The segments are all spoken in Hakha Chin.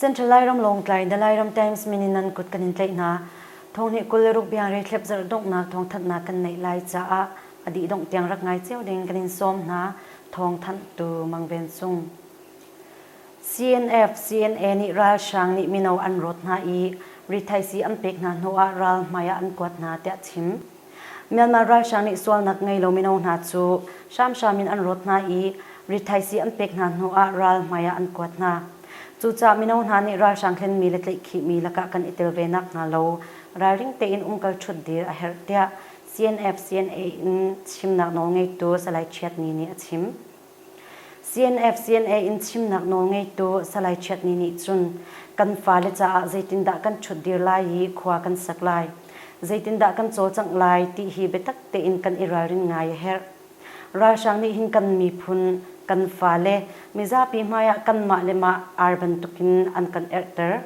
Central Lairam Lawngtlai The Lairam Times min in nan kut kan in tlaih hna. Thong nih kul le ruk biang rei thlep zarh donghnak thong thanhnak kan neih lai caah a dih dongh tiang rak ngai cio ding kan in sawm hna. Thong thanh tu Mang Ven Sung. CNF-CNA nih ralhrang nih mino an rawt hna i rithaisii an pek hna hnu ah ral hmai ah an kuat hna tiah chim. Myanmar ralhrang nih sualnak ngei lo mino hna cu hramhram in an rawt hna i rithaisii an pek hna hnu ah ral hmai ah an kuat hna. Cucaah mino hna nih ralhrang thlenmi le tlaihkhihmi lakah kan i tel ve nak hnga lo ralring tein umkal ṭhutdir a herh tiah CNF-CNA in chimnak nawl ngeitu Salai Chiat Ni nih a chim. CNF-CNA in chimnak nawl ngeitu Salai Chiat Ni nih cun kan fale caah zeitindah kan ṭhutdir lai i khua kan sak lai, zeitindah kan cawlcangh lai ti hi biatak tein kan i ralrin ngai a herh. Ralhrang nih hin kan miphun, kan fale, mizapi hmaiah kanmah le mah ar bantukin an kan erhter.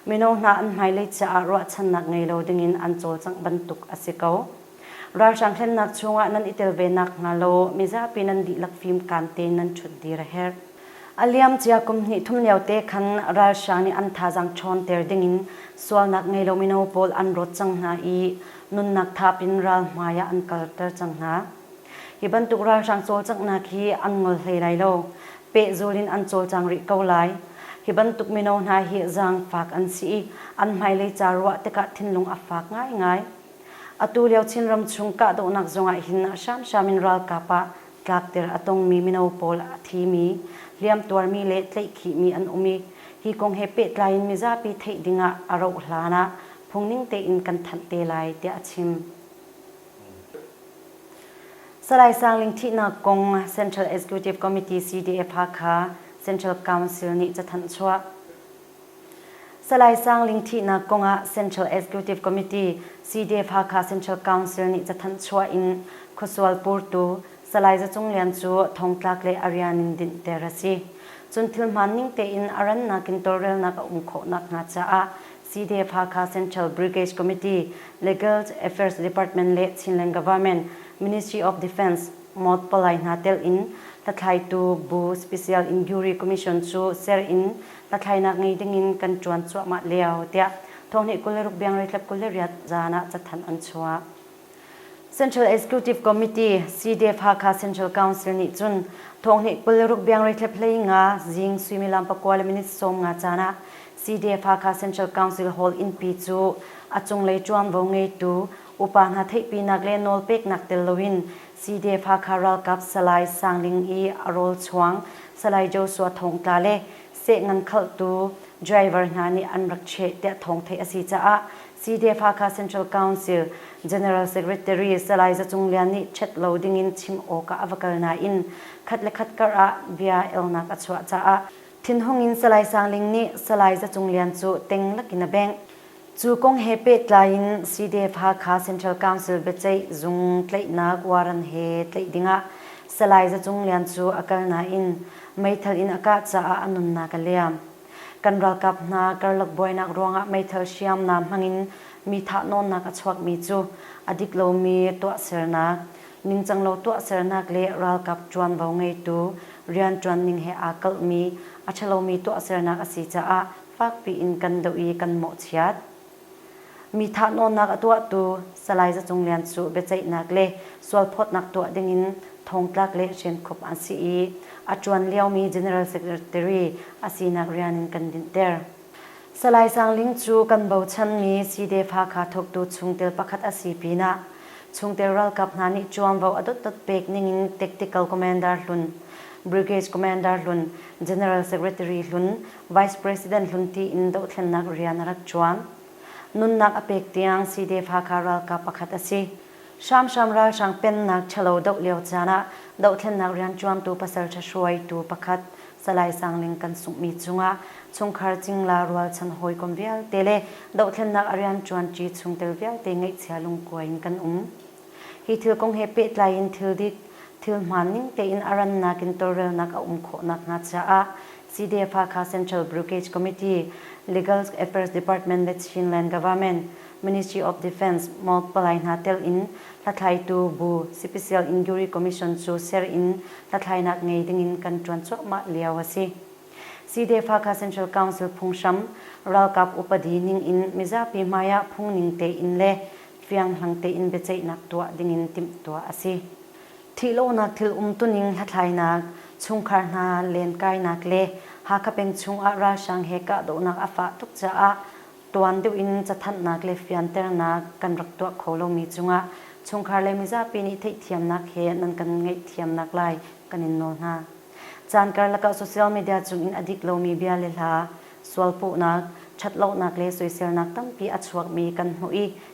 Mino hna an hmailei caah ruahchannak ngei lo dingin an cawlcangh bantuk a si ko. Ralhrang hremnak chungah nan i tel ve nakhnga law mizapi nan dihlak fimkaan tein nan ṭhut dih a herh. A liamcia kum hnih thum liote khan ralhrang nih an thazaang ṭhawnter dingin sualnak ngeilo mino pawl an rawt cang hna i nunnak thap in ral hmaiah an kalter cang hna. Hi bantuk ralhrang cawlcanghnak hi an ngol hlei lai lo, pehzul in an cawlcang rih ko lai. Hi bantuk mino hna hi zaangfak an si i an hmailei ca ruah tikah thinlung a fak ngaingai. Atu lio Chinram chung kahdohnak zongah hin a hramhram in ralkap ah tlakter a tongmi mino pawl a thimi, hliamtuarmi le tleihkhihmi an um i, hi kong he pehtlai in mizapi theih dingah a rauh hlan ah phungning tein kan thanh te lai, tiah a chim. Salai Sangling thihnak kong Central Executive Committee CDF Hakha Central Council nih cathanh chuah. Salai Sang Ling thihnak kong ah Central Executive Committee Sydef-Hakha Central Council nih cathanh chuah in khuasual purtu Salai Za Cung Lian cu thongtlak le a rian in dinhter a si. Cun thil hmaan ning tein a rannak in tawlrelnak a um khawh nakhnga caah Sydef-Hakha Central Brigade Committee, Legals, Affairs Department le Chinland Government, Ministry of Defence, Moth palai hna telh in hlathlaitu Bu Special Inquiry Commission cu ser in hlathlainak ngei dingin kan ṭuan cuahmah lio tiah Thawhnih kul le ruk biangreitlap kul le riat zaan ah cathanh an chuah. Central Executive Committee CDF-Hakha Central Council nih cun Thawhnih kul le ruk biangreitlap hlei nga zing suimilam pakua le minute sawm nga caan ah CDF-Hakha Central Council Hall innpi cu a cunglei ṭuanvo ngeitu upa hna theihpinak le nawlpeknak tel loin Cite-Hakha ralkap Salai Sang Ling i a rawlchuang Salai Joshua Thawngtla le sehngan khalhtu driver hna nih an rak cheh tiah thawng theih a si caah Cite-Hakha Central Council General Secretary Salai Za Cung Lian nih chet lo dingin chim awk ah a va kal nain khat le khat kar ah bia elnak a chuah caah thinhung in Salai Sang Ling nih Salai Za Cung Lian cu teng lakin a bengh. Cu kong he pehtlai in CDF-Hakha Central Council biaceih zung tlaihnak warrant he tlaih dingah Salai Za Cung Lian cu a kal nain meithal in a kah caah a nunnak a liam. Kan ralkap hna karlak buainak ruangah meithal hriamnam hmangin mi thahnawnnak a chuakmi cu a dik lomi tuahsernak, ningcanglo tuahsernak le ralkap ṭuanvo ngeitu rianṭuan ning he aa kalhmi a ṭhalomi tuahsernak a si caah fakpi in kan doh i kan mawhchiat. Mi thahnawnnak a tuahtu Salai Za Cung Lian cu biaceihnak le sualphawtnak tuah dingin thongtlak le hrinkhup an si i a ṭuan liomi General Secretary a sinak rian in kan dinhter. Salai Sang Ling cu kan bochanmi Syi-de-fa-kha thawktu chungtel pakhat a si pinah chungtel ralkap hna nih ṭuanvo a dotdot pek ningin Tactical Commander hlun, Brigade Commander hlun, General Secretary hlun Vice President hlunti in dohthlennak rian a rak ṭuan. Nunnak a pek tiang CDF-Hakha ralkap pakhat a si. Hramhram ralhrang pennak ṭhalo doh lio caan ah dohthlennak rianṭuantu pasal ṭhahruaitu pakhat Salai Sang Ling kan sunghmi cungah chungkhar cingla rualchan hawikom vialte le dohthlennak a rianṭuanṭi chungtel vialte ngeihchia lungkuai in kan um. Hi thil kong he pehtlai in thil dik, thil hmaan ning tein a rannak in tawlrelnak a um khawh nakhnga caah CDE-Hakha Central Brugage Committee, Legal Affairs Department le Chinland Government, Ministry of Defence, MOGC palai hna telh in hlathlaitu bu Cpcl Inquiry Commission cu ser in hlathlainak ngei dingin kan ṭuan cuahmah lio a si. CDE-Hakha Central Council phunghram ralkap upadi ning in mizapi hmaiah phung ning tein le fiang hlang tein biaceihnak tuah dingin timhtuah a si. Thihlohnak thil umtuning hlathlainak, chungkhar hna lenkainak le Hakha peng chungah ralhrang he kahdohnak a fah tuk caah tuan deuh in cathanhnak le fianternak kan rak tuah kho lomi cungah chungkhar le mizapi nih theihthiamnak he nan kan ngaihthiamnak lai kan in nawl hna. Caan karlak ah social media cungin a dik lomi bia le hla, sualpuhnak, ṭhatlonak le soiselnak tampi a chuakmi kan hmuh i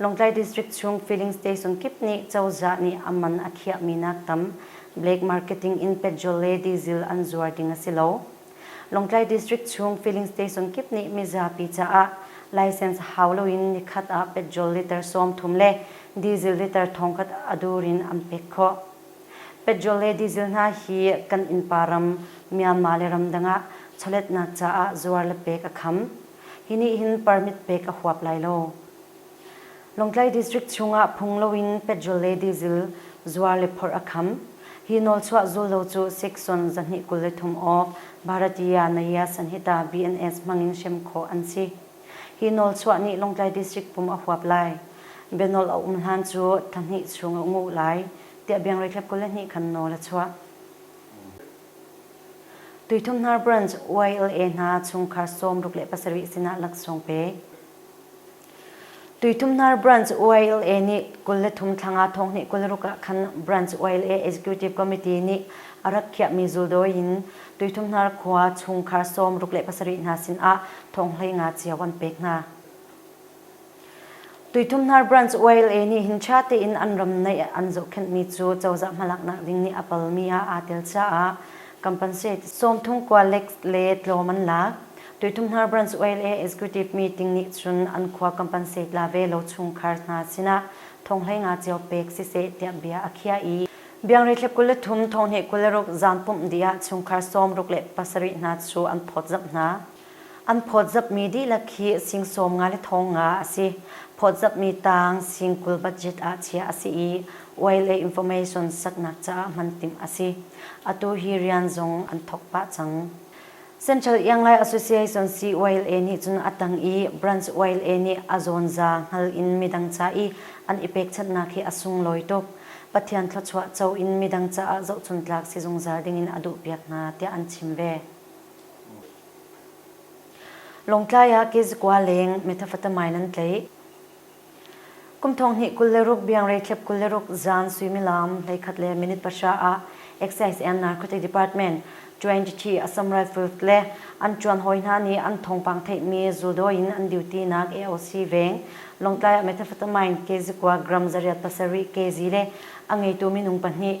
Lawngtlai District chung Filling Station kip nih cozah nih a man a khiahmi nak tam Black Marketing in Petrol le Diesel an zuar ding a si lo. Lawngtlai District chung Filling Station kip nih mizapi caah license hau loin nikhat ah petrol liter sawmthum le diesel liter thongkhat a dur in an pek khawh. Petrol le diesel hna hi kan innpa ram Myanmar le ramdang ah chawletnak caah zuar le pek a kham. hi nih hin permit pek a huap lai lo. Lawngtlai District chungah phung loin petrol le diesel zuar le phorh a kham. Hi nawlchuah zullo cu Section zahnih kul le thum awk Bharatiya Nayyasan hi ta BNS hmangin hrem khawh an si. Hi nawlchuah nih Lawngtlai District pum a huap lai. Bianawl a um hlan cu thla hnih chung a um uh lai, tiah Biangreithlep kul le hnih khan nawl a chuah. Tuithumhnar branch YLA hna chungkhar sawmruk le pasarih sinah laksawng pek. Tuithumhnar branch YLA nih kul le thum thlang ah thonghnih kul ruk ah khan branch YLA Executive Committee nih a rak khiahmi zuldawi in Tuithumhnar khua chungkhar sawmruk le pasarih hna sinah thonghlei nga cio an pek hna. Tuithumhnar branch YLA nih hin ṭha tein an ram neih an zohkhenhmi cu cozah hmalaknak ding nih a palmi ah aa tel caah compensate sawmthum kua le tlawm an lak. Tuithumhnar branch YLA executive meeting nih cun an khua compensate la ve lo chungkhar hna sinah thonghleinga cio pek siseh tiah bia a khiah i biangreithle kul le thum, thonghne kul le ruk zaam pumh dih ah chungkhar sawm ruk le pasarih hna cu an phawtzamh hna. An phawtzapmi dihlak hi singsawm nga le thawng nga a si. Phawtzapmi tang singkul budget ah chiah a si i oil le information saknak caah hman timh a si. Atu hi rian zong an thawk pah cang. Central Ianglai Association COLA nih cun a tang i Branch OLA nih a zawnza hngal in midang ca i an i pekchanhnak hi a sunglawi tuk. Pathian thluachuah co in midang caah zohchuntlak si zungzal dingin a duhpiak hna tiah an chim ve. Lawngtlai ah kezikua leng methamphetamine an tleih. Kum thong hnih kul le ruk biangre thlep kul le ruk zaan suimilam hleikhat le minute pahra ah Excise and Narcotic Department 20 a sam rifles le an tuan hawi hna nih an thawngpang theihmi zuldaw in an duty nak AOC veng Lawngtlai ah methamphetamine kezikua gram zariat pasarih kg le a ngeitu minung pahnih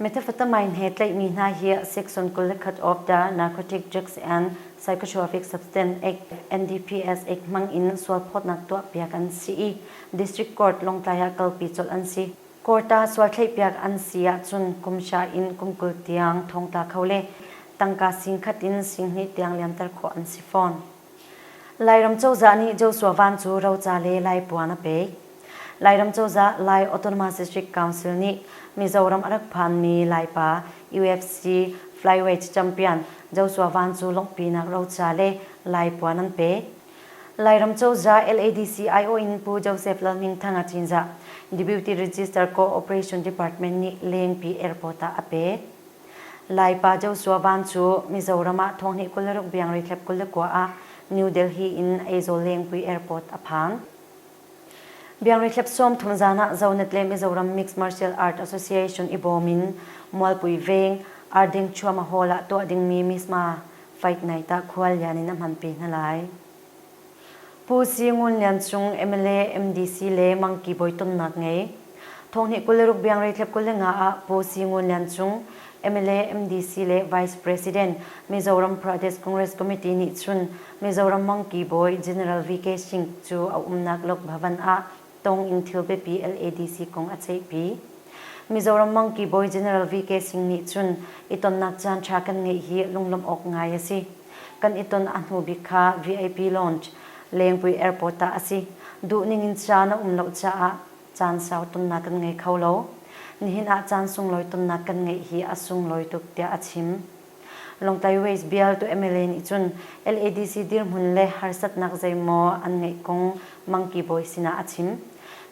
Methamphetamine he tlaihmi hna hi section kul le khat of the Narcotic Drugs and Psychotropic Substance Act NDPS Act hmang in sualphawtnak tuahpiak an si i District Court Lawngtlai ah kalpi colh an si. Court ah sual thlaihpiak an si ahcun kumsha in kum kul tiang thongtla kho le tangka sing khat in singhnih tiang liamter khawh an si fawn. Lairam cozah nih Joshua Van cu roca le Laipuan a pek. Lairam cozah Lai Autonomous District Council nih Mizoram a rak phanmi Laipa UFC flyweight champion Joshua Van cu lawngpinak roca le Laipuan an pek. Lairam cozah LADC aiawh in Pu Joseph Lalhmingthanga Cinzah Deputy Register Co-operation Department nih Lengpi Airport ah a pek. Laipa Joshua Van cu Mizoram ah thawhnih kul le ruk biangreithlep kul le kua ah New Delhi in Aizawl lengpui airport a phang. Biangreithlep sawmthum zan ah Zonetle Mizoram Mixed Martial Art Association i bawm in Mualpui Veng Ardingchuama Hall ah tuah dingmi Misma Fight Night ah khuallian in a hmanpi hna lai. Pu Si Ngun Lian Cung mla, MDC le Mangki Bawi tonnak ngei. Thawhni kul le rukbiang reitlep kul le nga ah Pu Si Ngun Lian Cung, mla, MDC le Vice President, Mizoram Pradesh Congress Committee nih cun Mizoram Mangki Bawi General VK Singh cu a umnak Lok Bhavan ah tawng in thil biapi LADC kong a ceihpi. Mizoram Monkey Bawi General VK Sing nih cun i tonnak caanṭha kan ngeih hi lunglawmh awk ngai a si. Kan i ton a hnu bik kha VIP Lounge, Lengpui Airport ah a si. Duhning in caan a um lo caah caan sau tonnak kan ngei kho lo. Nihin ah caan sunglawi tonnak kan ngeih hi a sunglawi tuk tiah a chim. Lawngtlai Ways Bial tu mla nih cun LADC dirhmun le harsatnak zeimaw an ngeih kong Monkey Bawi sinah a chim.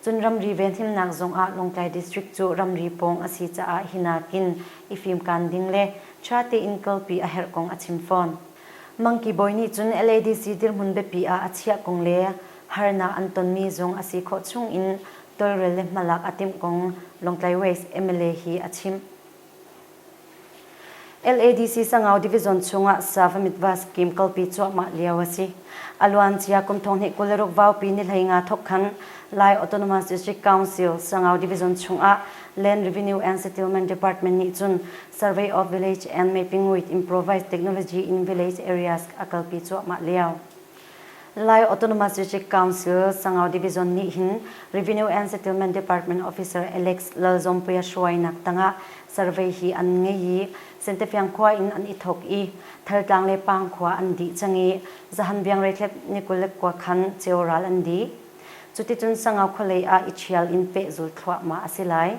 Cun ramri venhimnak zongah Lawngtlai District cu ramri pawng a si caah hi nakin i fimkaan ding le ṭha tein kalpi a herh kong a chim fawn. Monkey Bawi nih cun LADC dirhmun biapi ah a chiah kong le harnak an tonmi zong a si khawh chungin tawlrel le hmalak a timh kong Lawngtlai Ways mla hi a chimh. LADC Sangau Division chungah Savamyitva scheme kalpi cuahmah lio a si. A luancia kum thonghnih kul le ruk vaupi nihlei nga thawkkhan Lai Autonomous District Council Sangau Division chungah Land Revenue and Settlement Department nih cun Survey of Village and Maipingwit Improvised Technology in Village Areas a kalpi cuahmah lio. Lai Autonomous District Council Sangau Division nih hin Revenue and Settlement Department Officer Alex Lalzawmpuia hruainak tangah survey hi an ngei i Sentefiang khua in an i thawk i Thaltlang le Pangkhua an dih cang i Zahan Biangreithlep ni kul le kua khan ceural an dih. Cuticun Sangau khualei ah i ṭhial in pehzul thluahmah a si lai.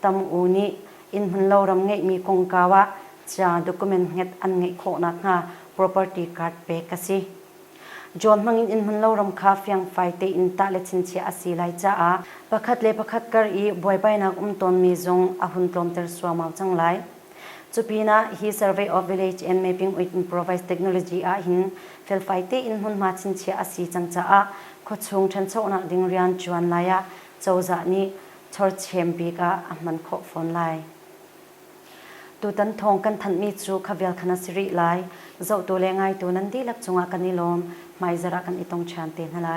Tam U nih innhmunlo ram ngeihmi kongkau ah ca document nget an ngeih khawh nakhnga property card pek a si. John hmang in innhmunlo ram kha fiangfai tein tah le chinchiah a si lai caah pakhat le pakhat kar i buaibainak um tawnmi zong a hun tlawmter suamau cang lai. Cupinah hi Survey of Village and Mapping with Improvised Technology ahhin felfai tein hmunhma chinchiah a si cang caah khuachung ṭhanchonak ding rian ṭuan lai ah cozah nih chorchem bik ah a hman khawh fawn lai. Tutan thawng kan thanhmi cu kha vial khan a si rih lai. Zohtu le ngaitu nan dihlak cungah kan i lawm, hmaizarh ah kan i tong ṭhan te hna lai.